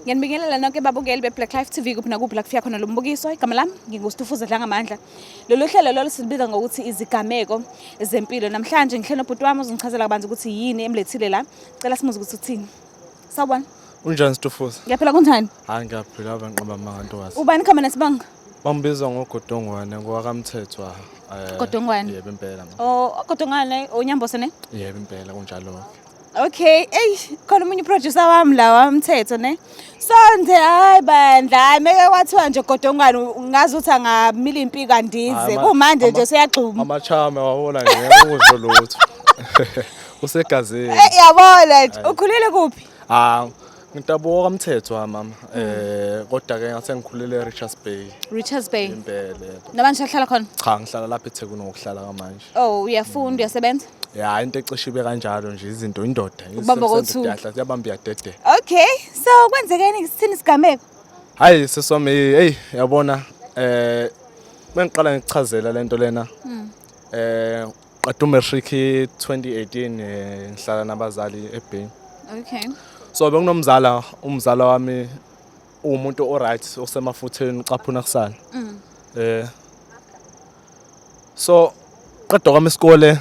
ngiyanibingelela nonke babukeli be-black life tv kuphi nakuphi la kufika khona lo mbukiso igama lami ngingustufuza dlangamandla lolu hlelo lolo silibiza ngokuthi izigameko zempilo namhlanje ngihle nobhuti wami uzongichazela kabanzi ukuthi yini emlethile la cela simuze ukuthi uthini sawubona unjani stufuza ngiyaphila kunjani hayi ngiyaphila abanqaba amanga ntokazi ubani khama nesibanga bangibizwa ngogodongwane ngowakamthethwa eh, Godongwane? yebo impela ma. o ogodongwane onyambose ne yebo impela kunjalo Okay, eyi khona omunye uproducer wami la wamthetho ne. Sonde hayi bandla, hayi meke kwathiwa nje godongwane ngazi ukuthi angamila impi kandize. Hayi, ma- Kumanje ama- nje seyagxuma. Amachame wawona nje ukusho lutho. Usegazini. Eh yabona nje ukhulele kuphi? Ah, Ngitabuka kamthetho ha mama. Eh kodwa ke ngase ngikhulele eRichards Bay. Richards Bay. Impele. Namanje uhlala khona? Cha ngihlala lapha eThekwini ngokuhlala kamanje. Oh, uyafunda, uyasebenza? Ya into ecishe ibe kanjalo nje izinto indoda. Ubamba kothu. Yabamba yadede. Okay, so kwenzekeni isithini sigameko? Hayi seswami hey yabona eh mengiqala ngikuchazela lento lena. Eh Qeda umatric 2018 eh, ngihlala nabazali eBay. Okay. So bekunomzala umzala wami umuntu oright osemafutheni ucaphuna kusana. Mm. Eh So qeda kwami isikole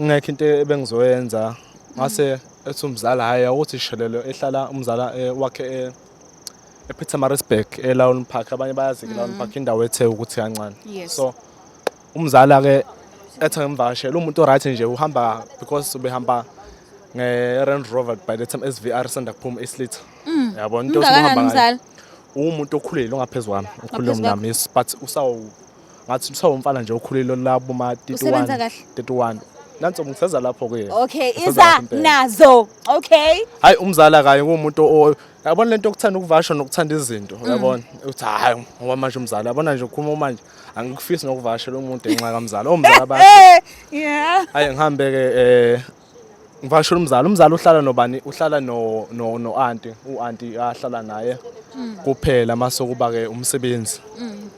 ngekho into ebengizoyenza ngase ethi umzala hayi awuthi shelelo ehlala umzala eh, wakhe eh, ePietermaritzburg eLawn Park abanye bayazi ke Lawn Park indawo ethe ukuthi kancane. Yes. So Umzali ake ethi ngimvakashele umuntu o-right nje uhamba because ubehamba nge-Range Rover by the time SVR sanda kuphuma islitha Mm. yabo into Mngakanani esihamba ngayo umzali? uwumuntu okhulile ongaphezulu kwami okhulile Ngaphezu kwakho. kunami yes but usawu ngathi usawumfana nje okhulile olabo ma Usebenza 31 kahle? 31 nanso ngiseza lapho kuye Okay, Ngiseza iza lapho impela. nazo. Okay. hayi umzala kanye kuwumuntu o- yabona lento okuthanda ukuvasha nokuthanda izinto uyabona uthi hayi ngoba manje umzala yabona nje ukhuluma manje angikufisi nokuvakashela umuntu ngenxa kamzala omzala bakhe eh, yeah ayi ngihambe ke eh ngivakashela umzala umzala uhlala nobani uhlala no no no auntie u auntie ahlala naye mm. kuphela mase kuba ke umsebenzi mm.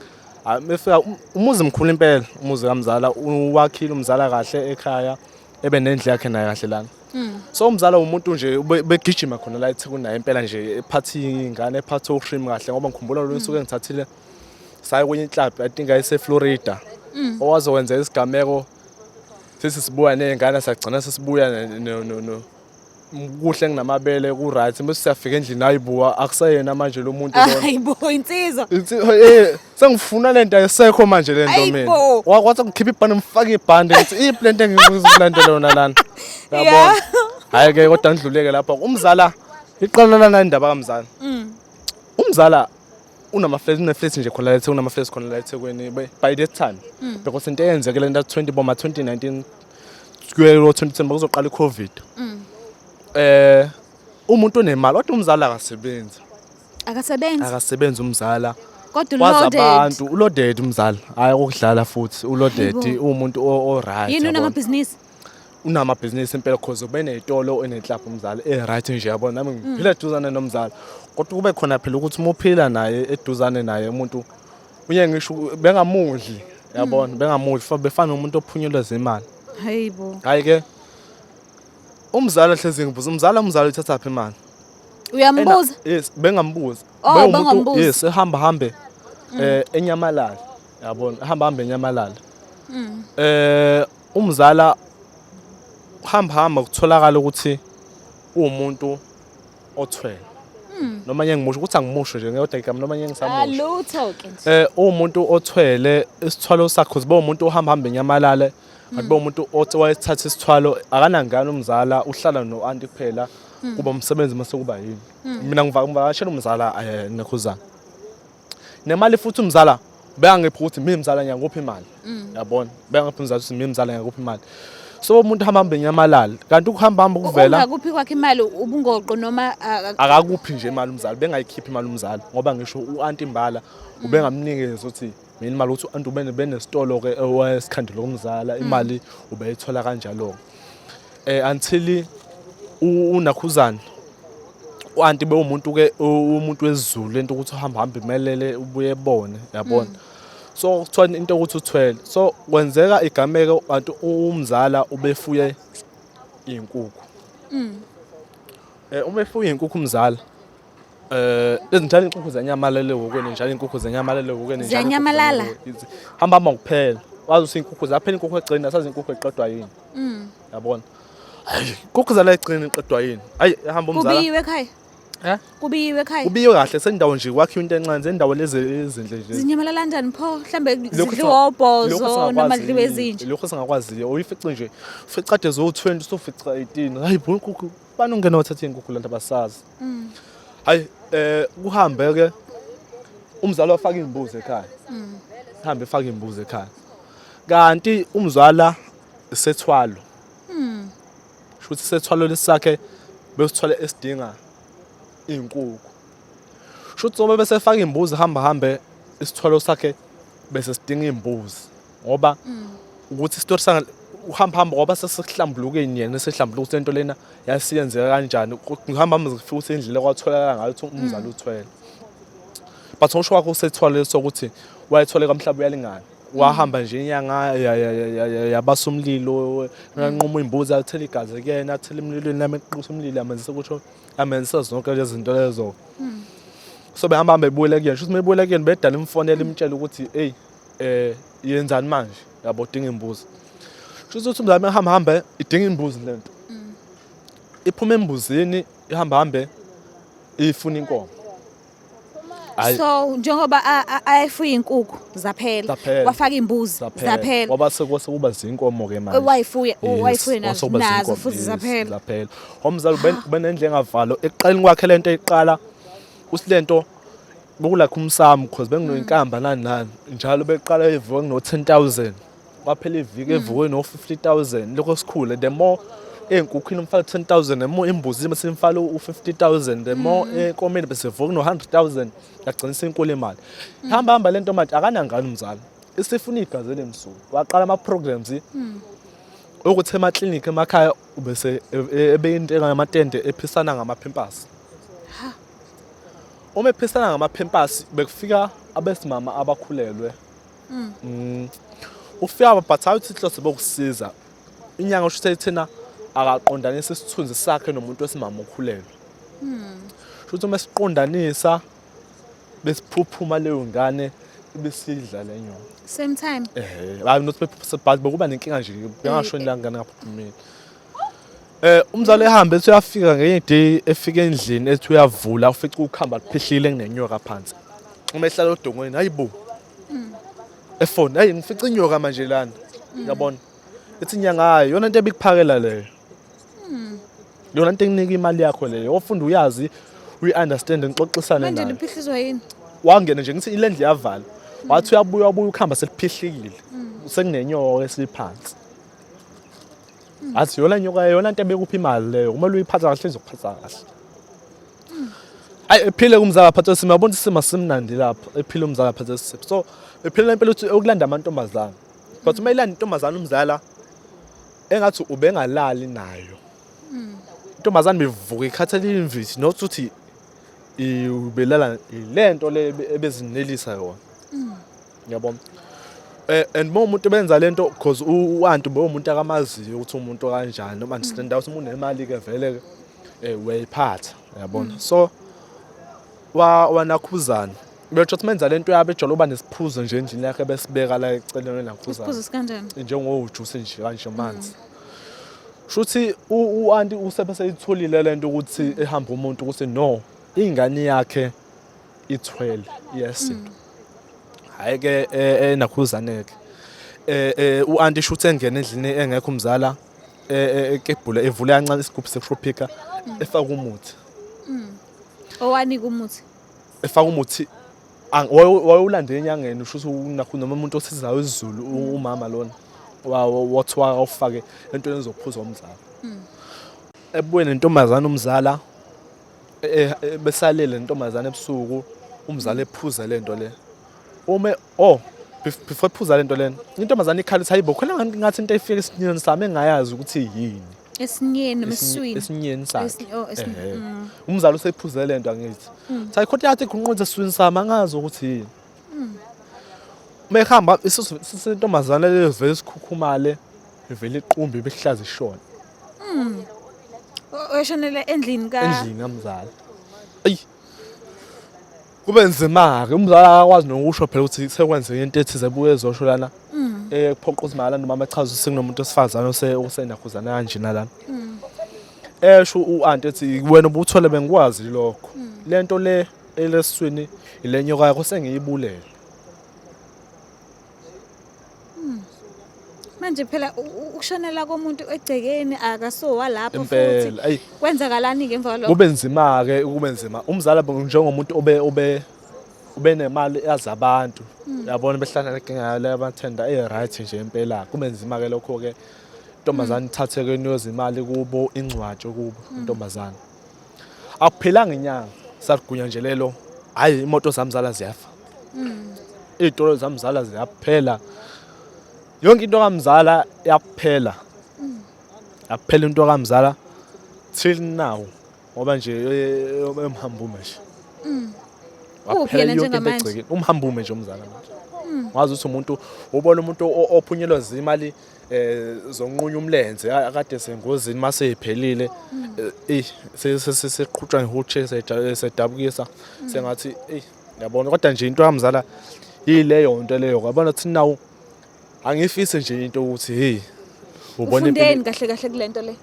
mefika um, umuzi mkhulu impela umuzi kamzala uwakhile umzala kahle ekhaya ebe nendle yakhe naye kahle lana mm. so umzala umuntu nje begijima khona la ethi kunaye impela nje ephathi ingane ephathi ushrim kahle ngoba ngikhumbula lo nsuku engithathile mm. saye kwenye club i think ayiseflorida mm. owaze wenza isigameko sisi sibuya ney'ngane sagcina sesibuya kuhle nginamabele ku-right bese siyafika endlini hayi buwa akuseyena manje lo muntu hayibo insizwa eh, sengifuna le nto ayisekho manje le nto mina wakwathi ngikhiphe ibhande ngifake ibhande ngithi iyiphi le nto engizokulanda lona lana yabona hhayi-ke kodwa ngidluleke lapho umzala iqala lana indaba kamzala mm. umzala unamaflesi uneflesi nje khona la eThekwini unamaflesi khona la eThekwini by by that time Mm. because into eyenzekele into 20 boma 2019 kuye lo 2010 bakuzoqala iCovid Mm. eh umuntu onemali kodwa umzali akasebenzi akasebenzi akasebenzi umzala kodwa kwazi uloaded abantu ulodedi umzali hayi ukudlala futhi ulodedi Hayibo. uwumuntu o- o-right yini yabona. unamabhizinisi unamabhizinisi impela cause ube ney'tolo enenhlapha umzali e-right nje yabona nami ngiphila eduzane nomzali kodwa kube khona phela ukuthi uma uphila naye eduzane naye umuntu unye ngisho bengamudli yabona bengamudli fa- befana nomuntu ophunyeleza imali hayi bo hhayi-ke umzali ahlezi ngibuza umzali umzali uthathaphi imali uyambuza Ena- yes bengambuza Oh, Bewumuntu- bengambuza. Mm. yes ehamba hambe eh enyamalala yabona ehamba hambe enyamalala eh Umzala hamba hamba kutholakala ukuthi uwumuntu othwele. Hmm. Noma nje ngimusho ukuthi angimusho nje ngiyodwa igama noma nje ngisamusho. Alutho ah, ke nje. Eh uwumuntu othwele isithwalo sakhe uzibe umuntu ohamba hamba enyamalale. Hmm. Akuba umuntu othi wayethatha isithwalo akanangane umzala uhlala no anti kuphela hmm. kuba umsebenzi mase kuba yini. Mina ngivakashela umzala eh nekhuzana. nemali futhi umzala beyangipha ukuthi mina mzala ngiyakupha imali mm. yabona beyangipha umzala ukuthi mina mzala ngiyakupha imali so umuntu hamba hambe nyamalala kanti ukuhamba hamba ukuvela ungakuphi kwakhe imali ubungoqo noma akakuphi nje imali umzali bengayikhiphi imali umzali ngoba ngisho uanti imbala mm. ubengamnikeza uthi mina imali ukuthi uanti ubene benesitolo ke esikhandile kumzala mm. imali ubeyithola kanjalo eh until unakhuzana uanti bewumuntu ke umuntu wezulu into ukuthi uhamba hamba imelele ubuye ebone yabona mm. so kuthiwa into ukuthi uthwele so kwenzeka igameke kanti umzala ubefuye izinkukhu mm. eh uma efuye izinkukhu umzala Eh njalo inkukhu zenyamalele wokweni njalo inkukhu zenyamalele wokweni njalo. Zenyamalala. Hamba hamba kuphela. Wazi usinkukhu zaphela inkukhu egcini asazi inkukhu eqedwa yini. Mm. Yabona. Hayi, inkukhu zala egcini eqedwa yini? Hayi, hamba umzala. Kubiyiwe ekhaya. Eh? Kubiyiwe ekhaya. Kubiyiwe kahle sendawo nje kwakhiwa into encane sendawo lezi ezinhle nje. Zinyamalala kanjani pho? Mhlambe zidliwa obhozo noma zidliwa ezinje. Lokho singakwaziyo. Uyifice nje. Ufica ade zo 20 usufica 18. Hayi, bo inkukhu bani ungena wathatha inkukhu lento abasazi mm. hayi eh kuhambe ke umzali wafaka imbuzi ekhaya mm. hambe faka imbuzi ekhaya kanti umzwala sethwalo mm. shuthi sethwalo lesakhe besithwale esidinga inkukhu shuthi sobe bese faka imbuzi hamba hambe isithwalo sakhe bese sidinga imbuzi ngoba mm. ukuthi isitori sa uhamba hamba ngoba sesihlambulukeni yena esihlambuluka ukuthi lento lena yasiyenzeka kanjani ngihamba hamba ngifika ukuthi indlela kwatholakala ngayo ukuthi umzali mm. uthwele but usho wakho usethwale sokuthi wayethole kamhlaba uyalingana wahamba nje inyanga yabasa umlilo nanquma imbuzi athela igazi kuyena athela emlilweni nami eqisa umlilo amenzisa ukuthi amenzisa zonke lezi zinto lezo so behamba behamba bebuyela kuyena shuthi bebuyela kuyena bedala imfonela imtshela ukuthi hey eh yenzani manje yabo udinga imbuzi kusho ukuthi umzali mehamba hambe idinga imbuzi lento mm. iphuma embuzini ihamba hambe ifuna inkomo so njengoba ayefuya inkukhu zaphela wafaka imbuzi zaphela waba sekwase kuba zinkomo ke manje wayifuye wayifuye nazo nazo futhi zaphela zaphela omzali ubenendle engavalo eqaleni kwakhe lento eqala usilento Bokulakha umsamo because benginoyinkamba nani nani njalo beqala evuka kuno 10000 kwaphela iviki evuke no 50000 lokho sikhule the more ey'nkukhwini umfaka 10000 the more embuzini bese imfala u-50000 the more mm. enkomeni bese vuka no-100000 yagcina senkulu imali mm. hamba hamba le nto manje akanangani umzali isifuna igazi elimsulwa waqala ama-programs mm. okuthi emaklinikhi emakhaya ubese e, e, ebeyinteka yamatende ephisana ngamaphempasi uma ephisana ngamaphempasi bekufika abesimama abakhulelwe mm. mm. ufika but awuthi inhloso bokusiza inyanga usho ukuthi thina akaqondanisa isithunzi sakhe nomuntu wesimama okhulelwe mm. shuthi uma siqondanisa besiphuphuma leyo ngane besidla le nyongo same time eh hayi not but bekuba nenkinga nje bengasho eh, eh. ngane ngaphuphumile Eh umzali ehambe ethi uyafika ngenye day efika endlini ethi uyavula ufica ukuhamba kuphihlile kunenyoka phansi. Uma ehlala odongweni hayibo. Efoni hayi ngifica inyoka manje lana. Uyabona? Ethi inyanga hayi yona into ebikuphakela leyo. Yona into enginika imali yakho leyo. Ofunda uyazi uyi-understand ngixoxisane nayo. Manje niphihlizwa yini? Wangena nje ngithi ilendle yavala. Wathi uyabuya ubuya ukuhamba seliphihlile. Sekunenyoka esiliphansi. athi yona nyoka yona nto ebekuphi imali leyo kumele uyiphatha kahle izokuphatha kahle ayi ephile kumzala phatha sima yabona isimo simnandi lapho ephile umzala phatha sima so ephile lempela ukuthi ukulanda amantombazana but uma ilanda intombazana umzala engathi ubengalali nayo intombazana bevuka ikhathele imvithi not ukuthi ubelala lento le ebezinelisa yona Ngiyabona. Eh and uma umuntu benza lento because uantu bo umuntu akamaziyo ukuthi umuntu kanjani noma understand ukuthi umuntu nemali ke vele ke eh uyayiphatha uyabona. Mm. So wa wanakhuzana Betsho ukuthi menza lento yabo ejolo uba nesiphuzo nje endlini yakhe besibeka la eceleni nakhuza. Isiphuzo sikanjani? Njengojuice nje kanje manzi. Mm. Shuthi uanti usebese itholile lento ukuthi ehamba umuntu ukuthi no ingane yakhe ithwele iyasinda hayi ke enakhuzane ke eh uanti shuthe engena endlini engekho umzala ekebhula evule kancane isigubhu sekushopika efaka umuthi owani kumuthi efaka umuthi wayewulande enyangeni usho ukuthi nakho noma umuntu osizayo isiZulu umama lona wathiwa awufake entweni ezokuphuza umzala ebuyeni intombazana umzala Eh, eh, besalele ntombazane ebusuku umzali ephuza le nto le ume oh before ephuza le nto lena intombazane ikhala ithi hayibo khona ngathi into efika esinyeni sami engayazi ukuthi yini esinyeni emswini esinyeni sakhe oh, mm. umzali usephuze le nto angithi mm. sayi khona yathi kunqonze eswini sami angazi ukuthi yini mm. mehamba isintombazane levele sikhukhumale ivele iqumbi behlaza ishona Mm. O- Oshonele endlini ka endlini kamzali ayi kube nzima ke umzali akakwazi nokusho phela ukuthi sekwenzeke into ethize ebuye ezosho lana Mm. eh kuphoqa ukuthi malana umama echaza ukuthi sekunomuntu osifazane ose osenakhuzana kanje nalana Mm. esho uanti ethi wena ubuthole bengikwazi lokho Mm. lento le elesiswini ilenyoka yakho sengiyibulele Hmm. manje phela ukushonela komuntu egcekeni akasowa lapho futhi kwenzakalani ngemva kwalokho kube nzima ke kube nzima umzala njengomuntu obe obe ube nemali yazi abantu hmm. yabona behlangana kengayo le bathenda e right nje impela kube nzima ke lokho ke intombazane hmm. ithatheke niyozimali kubo ingcwatshe kubo hmm. intombazane Akuphelanga inyanga salugunyanjelelo hayi imoto zamzala ziyafa. Mm. Izitolo zamzala ziyaphela. Yonke into kamzala yakuphela. Mm. Yakuphela into kamzala till now ngoba nje emhambume nje. Mm. Uphi yena njengamanje? Umhambume nje umzala manje. Wazi ukuthi umuntu ubona umuntu ophunyelwa zimali eh zonqunya umlenze akade sengozini mase iphelile eh sesiqhutshwa ngihutshe sedabukisa sengathi eh yabona kodwa nje into yamzala yileyo nto leyo yabona ukuthi nawu angifise nje into ukuthi hey ubone ufundeni kahle kahle kulento le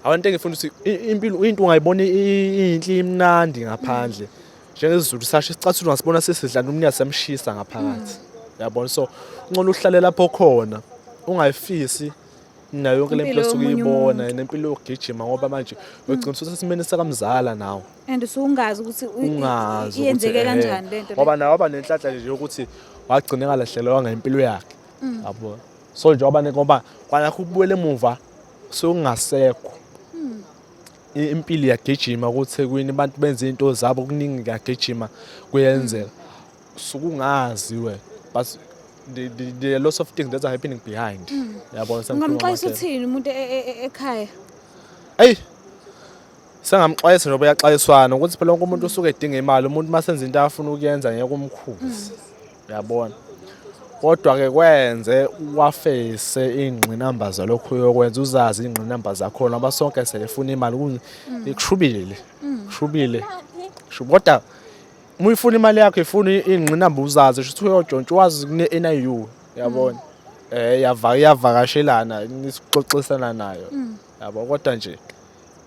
abantu engifuna ukuthi impilo into ungayibona inhle imnandi ngaphandle njengesizulu sasho isicathulo ngasibona sesidlana umnikazi semshisa ngaphakathi hmm. yabona so uncono uhlale lapho khona ungayifisi nayo yonke lempilo esuke uyibona nempilo yokugijima ngoba manje hmm. ugcina usesimeni sakamzala nawo and usungazi ukuthi ungazi yenzeke kanjani lento ngoba nawo waba nenhlanhla nje yokuthi wagcina kalahlelwa ngempilo yakhe hmm. yabo so njengoba ngoba kwanakho ubuyele emuva sokungasekho impilo iyagijima kuThekwini abantu benza into zabo kuningi kuyagijima kuyenzeka sukungazi we but the, the, the lots of things that are happening behind mm. yabona sengamxwayisa uthini umuntu e, e, e, ekhaya eyi sengamxwayisa njengoba yaxwayiswana ukuthi phela wonke umuntu usuke edinga imali umuntu uma senza into afuna ukuyenza ngeke umkhuze mm. yabona kodwa-ke kwenze wafese iy'ngqinamba zalokhu yokwenza uzazi iy'ngqinamba zakhona ngoba sonke seyefuna imali kushubile kushubile kodwa uma uyifuna imali yakho ifuna iy'ngqinamba uzazi shuthi uyojontsha wazi kune-n i u yabona um iyavakashelana nisixoxisana nayo yabo kodwa nje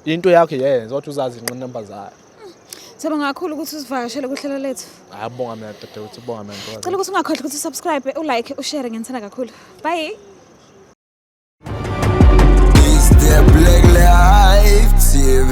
into yakho yenza kodwa uzazi iy'ngqinamba zayo Siyabonga kakhulu ukuthi usivakashele kuhlelo lethu. Ayabonga mina dadewethu, ubonga mina mfowethu. Cela ukuthi ungakhohlwa ukuthi usubscribe, ulike, ushare ngenithanda kakhulu. Bye. Is there black life TV?